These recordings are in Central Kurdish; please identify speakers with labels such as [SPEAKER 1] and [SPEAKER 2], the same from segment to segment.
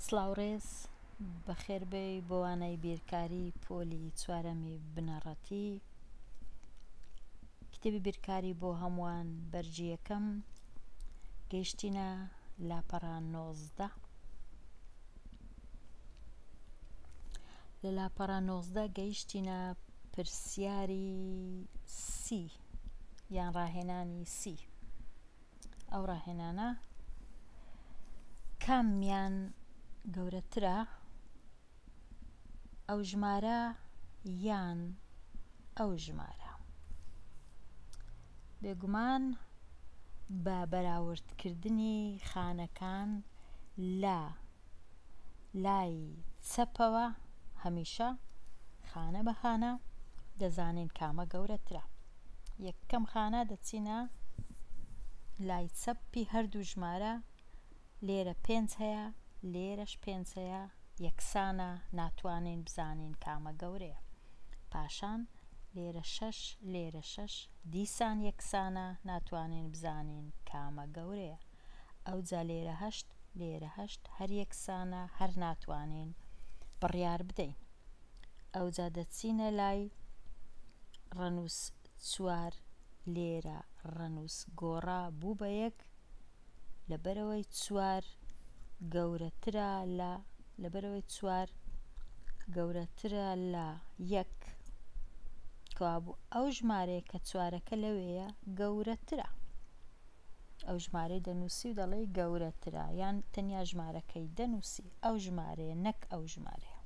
[SPEAKER 1] سڵاو ڕێز، بەخێربێی بۆ وانەی بیرکاری پۆلی چوارەمی بنەڕەتی کتێبی بیرکاری بۆ هەمووان بەرگی یەکەم گەیشتینە لاپەڕە نۆزدە لە لاپەڕە نۆزدە گەیشتینە پرسیاری سی یان ڕاهێنانی سی ئەو ڕاهێنانە کامیان گەورەترە ئەو ژمارە یان ئەو ژمارە بێگومان بە بەراوردکردنی خانەکان لە لای چەپەوە هەمیشە خانە بە خانە دەزانین کامە گەورەترە یەکەم خانە دەچینە لای چەپی هەردوو ژمارە لێرە پێنج هەیە لێرەش پێنج هەیە یەکسانە ناتوانین بزانین کامە گەورەیە پاشان لێرە شەش لێرە شەش دیسان یەکسانە ناتوانین بزانین کامە گەورەیە ئەوجا لێرە هەشت لێرە هەشت هەر یەکسانە هەر ناتوانین بڕیار بدەین ئەوجا دەچینە لای ڕەنووس چوار لێرە ڕەنووس گۆڕا بوو بە یەک لەبەرەوەی چوار گەورەترە لە لەبەرەوەی چوار گەورەترە لە یەک کەوابوو ئەو ژمارەیە کە چوارەکە لەوەیە گەورەترە ئەو ژمارەی دەنووسی و دەڵێی گەورەترە یان تەنیا ژمارەکەی دەنووسی ئەو ژمارەیە نەک ئەو ژمارەیە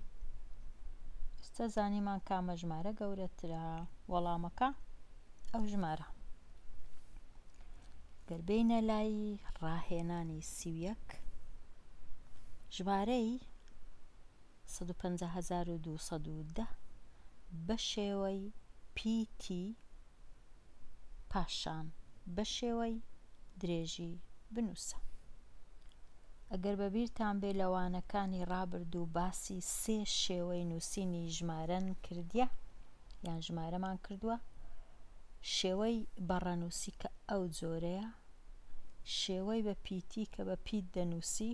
[SPEAKER 1] ئستا زانیمان کامە ژمارە گەورەترە وەڵامەکە ئەو ژمارە گەربینە لای ڕاهێنانی سیویەک ژمارەی 150210 بە شێوەی پیتی پاشان بەشێوەی درێژی بنووسە. ئەگەر بەبیرتان بێ لە وانەکانی ڕابردوو باسی سێ شێوەی نووسینی ژمارەن کردیە یان ژمارەمان کردووە شێوەی بەڕەنووسی کە ئەو جۆرەیە شێوەی بە پیتی کە بە پیت دەنووسی،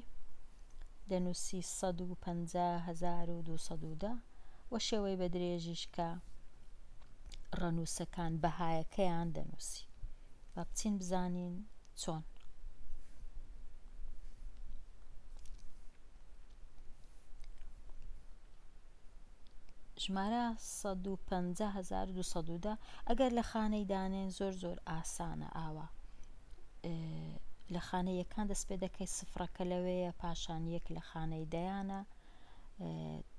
[SPEAKER 1] دەنووسی سەد و پەنجا هەزار و دوو سەد و دە، و شێوەی بە درێژیش کە ڕەنووسەکان بەهایەکەیان دەنووسی. با بچین بزانین چۆن. ژمارە سەد و پەنجا هەزار و دوو سەد و دە ئەگەر لە خانەی دانێن زۆر زۆر ئاسانە ئاوا لە خانە یەکان دەست پێ دەکەی سفرەکە لەوەیە پاشان یەک لە خانەی دەیانە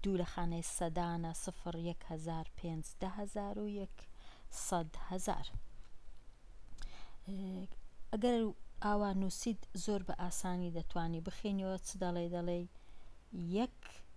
[SPEAKER 1] دوو لە خانەی سەدانە سفر یەک هزار پێنج ده هزار و یەک سەد هزار ئەگەر ئاوا نووسید زۆر بە ئاسانی دەتوانی بخینەوە چ دەڵێ دەڵێ یەک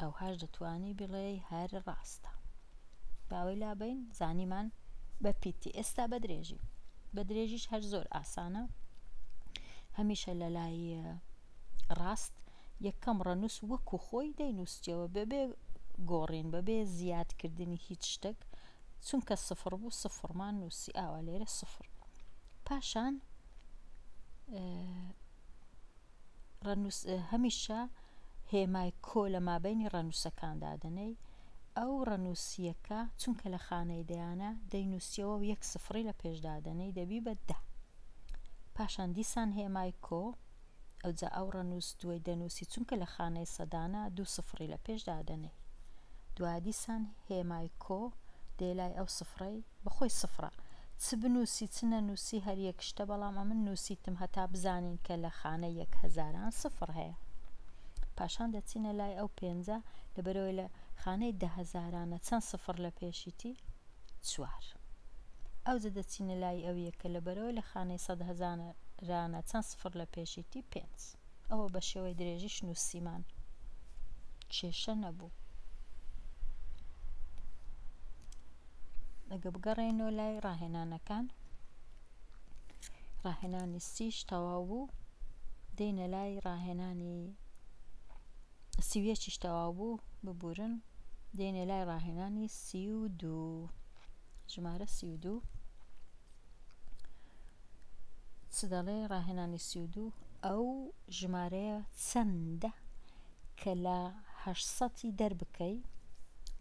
[SPEAKER 1] ئەوهاش دەتوانی بڵێی هەر ڕاستە باوەی لابین زانیمان بە پیتی ئێستا بە درێژی بە درێژیش هەر زۆر ئاسانە هەمیشە لە لای ڕاست یەکەم ڕەنووس وەکو خۆی دەینووسیەوە بەبێ گۆڕین بەبێ زیادکردنی هیچ شتێک چونکە سفر بوو سفرمان نووسی ئاوا لێرە سفر پاشان ڕەنووس هەمیشە هێمای کۆ لە مابەینی ڕەنووسەکان دادەنێی، ئەو ڕەنووسییەکە چونکە لە خانەی دەیانە دەینووسیەوە و یەک سفڕی لە پێش دادەنێی دەبی بە دە. پاشان دیسان هێمای کۆ، ئەوجا ئەو ڕەنووس دووەی دەنووسی چونکە لە خانەی سەدانە دوو سفڕی لە پێش دادەنێی. دوایە دیسان هێمای کۆ دێ لای ئەو سفڕەی بە خۆی سفڕە. چ بنووسی چ نەنووسی هەر یەک شتە بەڵام ئەمن نووسیتم هەتا بزانین کە لە خانە یەک هەزاران سفڕ هەیە. پاشان دەچینە لای ئەو پێنجە لەبەرئەوەی لە خانەی دە هەزارانە چەند سفڕ لە پێشیتی؟ چوار. ئەوجە دەچینە لای ئەو یەکە لەبەرئەوەی لە خانەی سەد هەزارانە چەند سفڕ لە پێشیتی؟ پێنج. ئەوە بە شێوەی درێژیش نووسیمان کێشە نەبوو ئەگە بگەڕێنەوە لای ڕاهێنانەکان ڕاهێنانی سیش تەواو بوو دێنە لای ڕاهێنانی سیویەکیش تەواو بوو ببورن دێنێ لای ڕاهێنانی سی و دوو ژمارە سی و دوو چ دەڵێ ڕاهێنانی سی و دوو ئەو ژمارەیە چەندە کە لە هەشت سەتی دەربکەی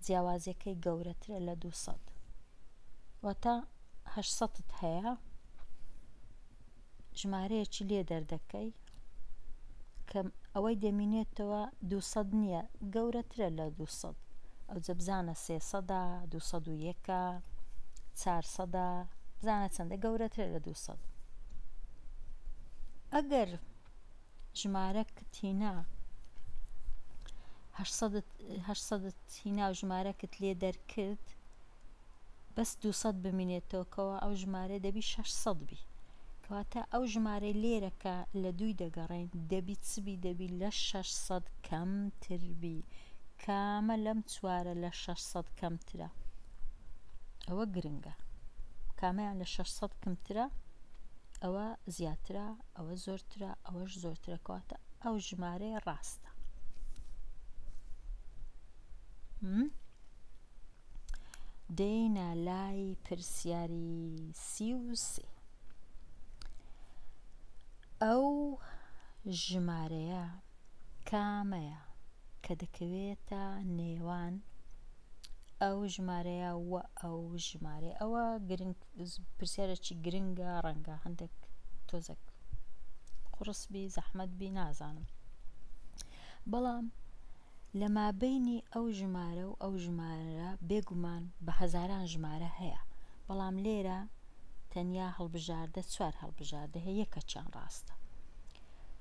[SPEAKER 1] جیاوازیەکەی گەورەترە لە دوو سەد واتە هەشت سەتت هەیە ژمارەیەکی لێ دەردەکەی کە ئەوەی دەمینێتەوە دوو سەد نییە گەورەترە لە دوو سەد ئەوجە بزانە سێ سەدا دوو سەد و یەکە چار سەدا بزانە چەندە گەورەترە لە دوو سەد ئەگەر ژمارە کتینا هەشسەدت هەشسەدت هینا و ژمارەکت لێ دەرکرد بەس دوو سەد بمینێتەوە کەوا ئەو ژمارە دەبی شەش سەد بی کەواتە ئەو ژمارەی لێرە کە لە دووی دەگەڕێن دەبی چبی دەبی لە شەش سەد کەمتر بی کامە لەم چوارە لە شەش سەد کەمترە ئەوە گرنگە کامەیان لە شەش سەد کەمترە ئەوە زیاترە ئەوە زۆرترە ئەوەش زۆرترە کەواتە ئەو ژمارەیە ڕاستە دێینە لای پرسیاری سی و سێ. ئەو ژمارەیە کامەیە کە دەکەوێتە نێوان ئەو ژمارەیە و ئەو ژمارە ئەوە گرنگ پرسیارێکی گرنگە ڕەنگە هەندێک تۆزەک قڕسبی زەحمەت بی نازانم بەڵام لە مابەینی ئەو ژمارە و ئەو ژمارە بێگومان بە هەزاران ژمارە هەیە، بەڵام لێرە تەنیا هەڵبژاردە چوار هەڵبژاردە هەیە یەکەکیان ڕاستە.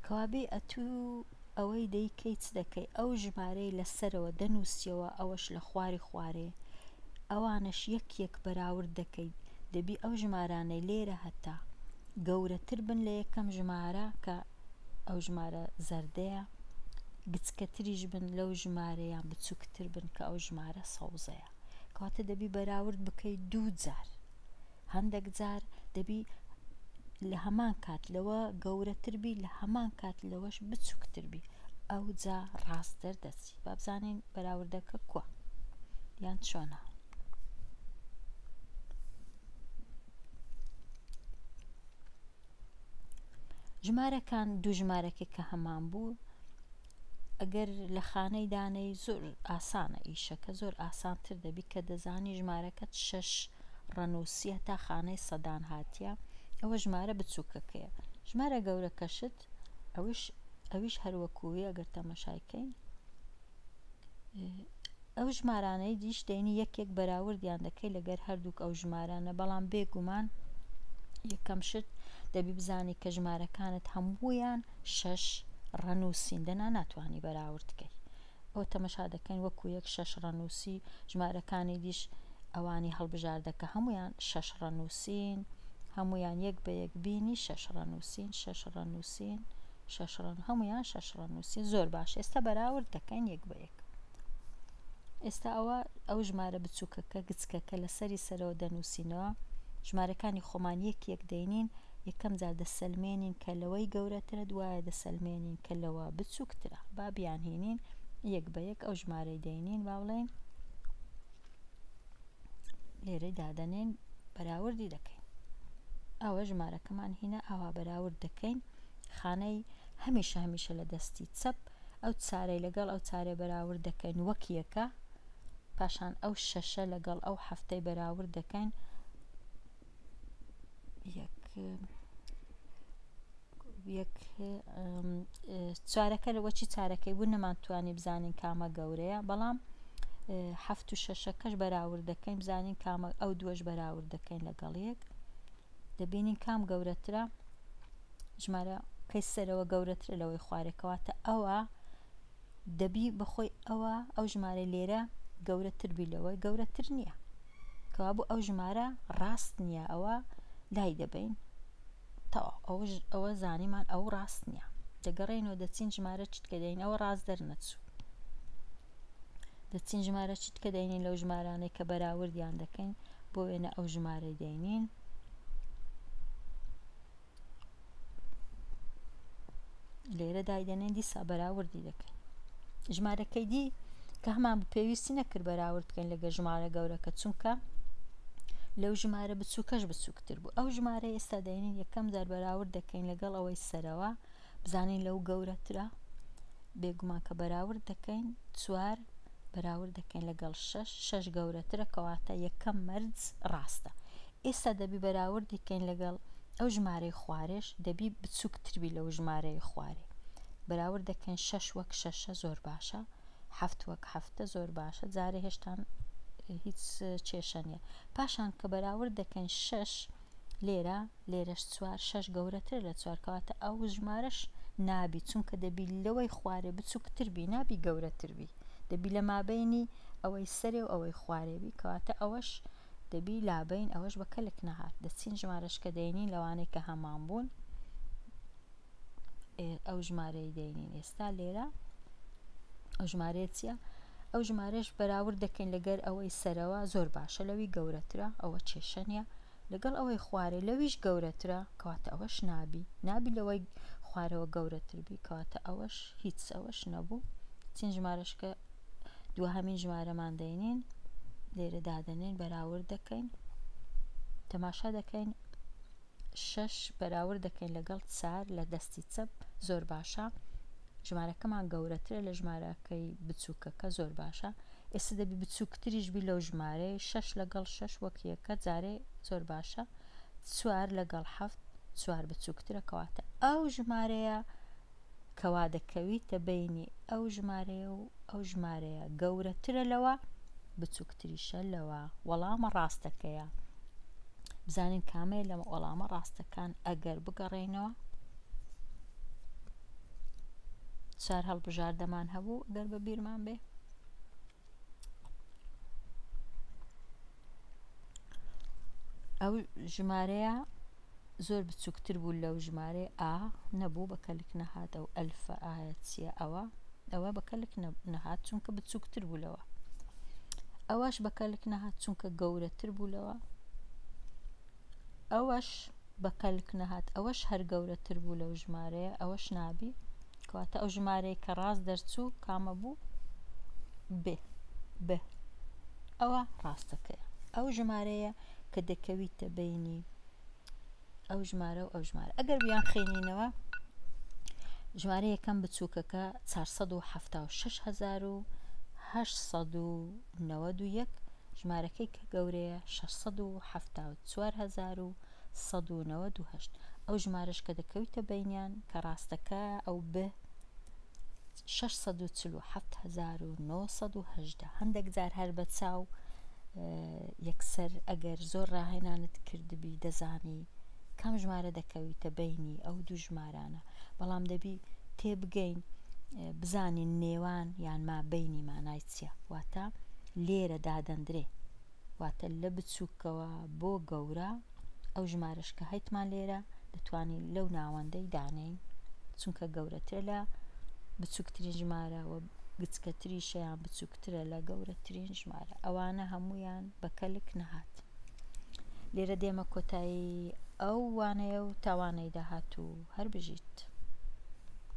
[SPEAKER 1] کەوابێ ئەتوو ئەوەی دەیکەی چ دەکەی ئەو ژمارەی لە سەرەوە دەنووسیەوە ئەوەش لە خواری خوارێ ئەوانەش یەک یەک بەراورد دەکەی دەبی ئەو ژمارانەی لێرە هەتە گەورەتر بن لە یەکەم ژمارە کە ئەو ژمارە زەردەیە، گچکەتریش بن لەو ژمارە یان بچووکتر بن کە ئەو ژمارە سەوزەیە. کەواتە دەبی بەراورد بکەی دوو جار. هەندێک جار دەبی لە هەمان کات لەوە گەورەتر بی لە هەمان کات لەوەش بچووکتر بی ئەو جا ڕاست دەردەچی بابزانین بەراوردەکە کووە یان چۆنە. ژمارەکان دوو ژمارەکە کە هەمان بوو ئەگەر لە خانەی دانەی زۆر ئاسانە ئیشەکە زۆر ئاسانتر دەبی کە دەزانی ژمارەکەت شەش ڕەنووسە تا خانەی سەدان هاتیە ئەوە ژمارە بچووکەکەیە ژمارە گەورەکەشت ئەوش ئەویش هەروەکووی ئەگەر تەمەشایکەین ئەو ژمارانەی دیش دەینی یەک یەک بەراوردیان دەکەی لەگەر هەردووک ئەو ژمارانە بەڵام بێگومان یەکەم شت دەبی بزانی کە ژمارەکانت هەموویان شەش ڕەنووسین دەنا ناتوانانی بەراورد بکەی ئەو تەمەشا دەکەین وەکو یەک شەش ڕەنووسی ژمارەکانی دیش ئەوانی هەڵبژاردەکە هەمویان شەش ڕەنووسین هەمویان یەک بە یەک بینی شەش ڕەنووسین شەش ڕەنووسین شەش ڕەن هەمویان شەش ڕەن نووسین زۆر باش ئێستا بەراورد دەکەین یەک بە یەک ئێستا ئەوە ئەو ژمارە بچووکەکە گچکەکە لە سەری سەرەوە دەنووسینەوە ژمارەکانی خۆمان یەک یەک دەینین یەکەم جار دەسەلمێنین کە لەوەی گەورەترە دوایە دەسەلمێنین کە لەوە بچووکترە با بیانهێنین یەک بە یەک ئەو ژمارەی دەینین با بڵێن لێرەی دادەنێن بەراوردی دەکەین ئەوە ژمارەکەمان هینا ئاوا بەراورد دەکەین و خانەی هەمیشە هەمیشە لە دەستی چەپ ئەو چارەی لەگەڵ ئەو چارەی بەراورد دەکەین وەک یەکە پاشان ئەو شەشە لەگەڵ ئەو حەفتەی بەراورد دەکەین یەک یەک چارەکە لەوەچی چارەکەی بوو نەمانتوانی بزانین کامە گەورەیە بەڵام هەفت و شەشەکەش بەراورد دەکەین بزانین کامە ئەو دووەش بەراورد دەکەین لەگەڵ یەک دەبینین کام گەورەترە ژمارە کەی سەرەوە گەورەترە لەوەی خوارێکەواتە ئەوە دەبی بەخۆی ئەوە ئەو ژمارە لێرە گەورەتر بی لەوە گەورەتر نییە کەوا بوو ئەو ژمارە ڕاست نییە ئەوە لای دەبین تەواو ئەوش ئەوە زانیمان ئەو ڕاست نییە دەگەڕێنەوە دەچین ژمارە چتکە دەین ئەوە ڕاست دەرنەچوو دەچین ژمارە چرکە دەینین لەو ژمارانەی کە بەراوردیان دەکەین بۆ وێنە ئەو ژمارەی دەینین لێرە دایدەنێن دیسا بەراوردی دەکەین ژمارەکەی دی کە هەمان پێویستی نەکرد بەراورد بکەین لەگە ژمارە گەورەکە چونکە لەو ژمارە بچووکەش بچووکتر بوو ئەو ژمارە ئێستا دەینین یەکەم جار بەراورد دەکەین لەگەڵ ئەوەی سەرەوە بزانین لەو گەورەترە بێگومان کە بەراورد دەکەین چوار بەراورد دەکەین لەگەڵ شش شش گەورەترە کەواتە یەکەم مەرج ڕاستە ئێستا دەبی بەراوردی کەین لەگەڵ ئەو ژمارەی خوارێش دەبی بچووکتربی لەو ژمارەی خوارێ بەراورد دەکەین شش وەک شەشە زۆر باشە هەفت وەک هەفتە زۆر باشە جارێ هێشتان هیچ کێشە نیە پاشان کە بەراورد دەکەین شش لێرە لێرەش چوار شەش گەورەتر لە چوار کەواتە ئەو ژمارەش نابی چونکە دەبی لەوەی خوارێ بچووکتر بی نابی گەورەتر بی دەبی لە مابینی ئەوەی سەرێ و ئەوەی خوارێبی کەواتە ئەوەش دەبی لابین ئەوەش بە کەلک نەهات دەچین ژمارەشکە دەینین لەوانەیە کە هەمان بوون ئەو ژمارەی دەینین ئێستا لێرە ئەو ژمارەیە چییە؟ ئەو ژمارەش بەراورد دەکەین لەگەر ئەوەی سەرەوە زۆر باشە لەوی گەورەترە ئەوە کێشە نیە لەگەڵ ئەوەی خوارێ لەویش گەورەترە کەواتە ئەوەش نابی نابی لەوەی خوارەوە گەورەتر بی کەواتە ئەوەش هیچ ئەوەش نەبوو چین ژمارەشکە دو هەمین ژمارەمان دەینین لێرە دادەنین بەراورد دەکەین تەماشا دەکەین شەش بەراورد دەکەین لەگەڵ چار لە دەستی چەپ زۆر باشە ژمارەکەمان گەورەترە لە ژمارەکەی بچووکەکە زۆر باشە ئێستا دەبی بچووکتریش بی لەو ژمارەی شەش لەگەڵ شەش وەکیەکە جارێ زۆر باشە چوار لەگەڵ حەفت چوار بچووکترە کەواتە ئەو ژمارەیە کەوا دەکەویتە بەینی ئەو ژمارەیە و ئەو ژمارەیە گەورەترە لەوە بچووکتریشە لەوە وەڵامە ڕاستەکەیە بزانین کامەیە لەمە وەڵامە ڕاستەکان ئەگەر بگەڕێینەوە چار هەڵبژاردەمان هەبوو گەر بە بیرمان بێ ئەو ژمارەیە زۆر بچووکتر بوو لەو ژمارە ئا نەبوو بە کەلک نەهات ئەو ئەلفە ئاەت چیە ئەوە ئەوە بە کەلک نەهات چونکە بچووکتر بوو لەوە ئەوەش بە کەلک نەهات چونکە گەورەتر بوو لەوە ئەوەش بە کەلک نەهات ئەوەش هەر گەورەتر بوو لەو ژمارەیە ئەوەش نابی کەواتە ئەو ژمارەیە کە ڕاست دەرچوو کامە بوو بێ بێ ئەوە ڕاستەکەی ئەو ژمارەیە کە دەکەویتە بینی ئەو ژمارە و ئەو ژمارە ئەگەر بیان خێنینەوە ژمارە یەکەم بچووکەکە 476 1970 نەوەد و یەک، ژمارەکەی کە گەورەیە، شەش سەد و حەفتا و چوار هەزار و سەد و نەوەد و هەشت، ئەو ژمارەش کە دەکەویتە بەینیان، کە ڕاستەکە، ئەو بئ شەش سەد و چل و حەفت هەزار و نۆ سەد و هەژدە، هەندەک جار هەر بە چاو یەکسەر ئەگەر زۆر ڕاهێنانت کردبی دەزانی کام ژمارە دەکەویتە بەینی ئەو دوو ژمارانە، بەڵام دەبی تێبگەین بزانین نێوان یان مابەینی مانای. ئەبستراکسیە واتە لێرە دادەندرێ واتە لە بچوکەوە بۆ گەورە ئەو ژمارەش کە هەیتمان لێرە دەتوانین لەو ناوەندەی دانێین چونکە گەورەترە لە بچووکترین ژمارە و گچکەتری شەیان بچووکترە لە گەورەترین ژمارە ئەوانە هەمویان بە کەلک نەهات لێرە دێمە کۆتایی ئەو وانەیە و تاوانەی داهات و هەر بژیت.